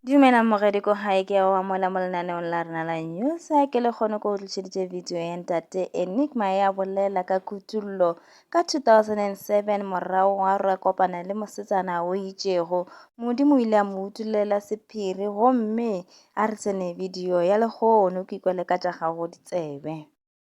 Dumela mogedi ko gae ke wa mola mo lenaneong la rena la newsa ke le kgone ko o tlišeditše video ya ntate enigma ya bolela ka kutullo ka 2007 morago wa re kopana le mosetsana o itšego modimo o ile a mo utulela sephiri gomme a re tsene video ya lehono ke ikwele ka tša gago ditsebe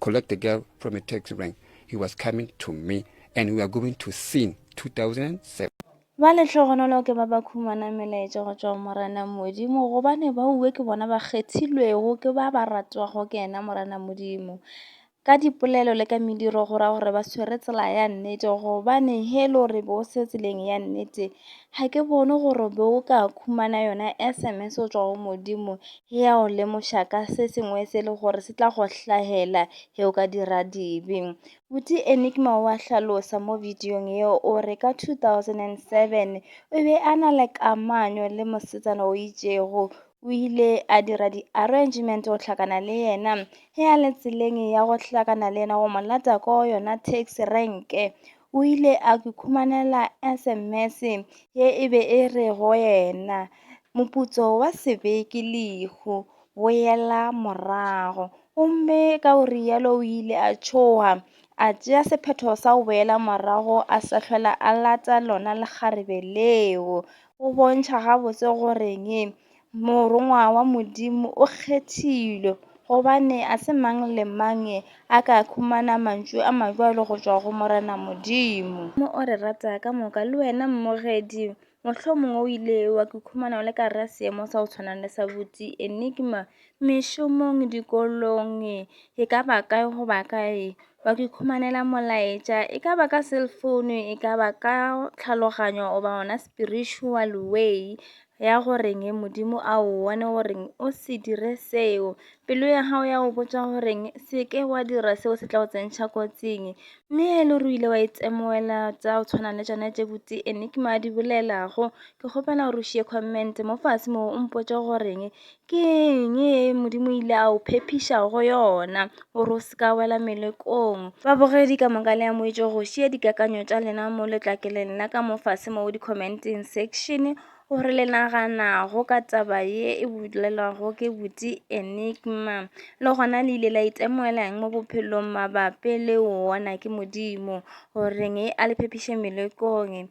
collect the girl from a taxi rank he was coming to me and we are going to sing 2007 ba letlhogonolo ke ba ba khumana melaetša go tšwa morena modimo gobane ba uwe ke bona ba kgethilwego ke ba ba ratwago ke ena morena modimo ka dipolelo le ka mediro go ra gore ba swere tsela ya nnete gobane he le gore be o se tseleng ya nnete ga ke bone gore be o ka khumana yona sms o tswa go modimo Ge a go lemoša ka se sengwe se le gore se tla go hlahela ge o ka dira dibe. Buti Enigma o a hlalosa mo bidiong yeo o re ka 2007 o be a na le kamanyo le mosetsana o itšego o ile a dira di-arrangement go hlakana le yena ge a le tseleng ya go hlakana le yena go mo lata ko yona taxi renke o ile a ke khumanela sms ye e be e re go yena moputso wa sebeke lehu boela morago gomme ka o rialo o ile a tšhoga a tšea sephetho sa go boela morago a sa tlhola a lata lona lekgarebe leo go bontšha gabotse goreng Morongwa wa Modimo o kgethilwe, gobane a se mang le mang a ka khumana mantšu a majwalo go tšwa go Morena Modimo. Mo o re rata ka moka. Le wena mmogedi, mohlomongwe o ile wa ikhumana o le ka gare ga seemo sa go tshwana le sa Buti, Enigma, mešomong, dikolong, e ka ba kae goba kae. Wa ikhumanela molaetša, e ka ba ka cellphone, e ka ba ka tlhaloganyo goba gona spiritual way. ya go reng modimo a o bone goreng o se dire seo pelo ya gago ya go botsa goreng se ke wa dira seo se tla go tsentšha kotsing mme e le ruile wa itemoela tsa go tshwana le tsone tse botse enigma di bolelago ke kgopela gore o šie comment mo fase moo o mpotse goreng Ke eng ye Modimo o ile a o phephiša go yona gore o se ka wela melekong? Babogedi ka moka le amoetše go šia dikakanyo tša lena mo letlakeleng la ka mo fase mo di-commenting section gore le naganago ka taba ye e bolelwago ke buti Enigma le gona le ile la itemogelang mo bophelong mabapi le wona ke Modimo goreng e a le phephiše melekong.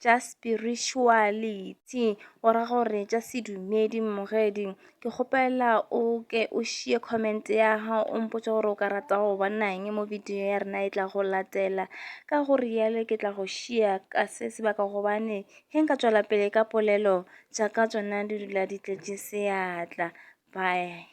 tša spirituality o ra gore tša sedumedi mmogedi ke kgopela o ke o šie comment ya gago o mpotse gore o ka rata go bonang mo video ya rena e tla go latela ka go rialo ke tla go šia ka se sebaka gobane ge nka tswela pele ka polelo tša ka tsona di dula di tletše seatla bye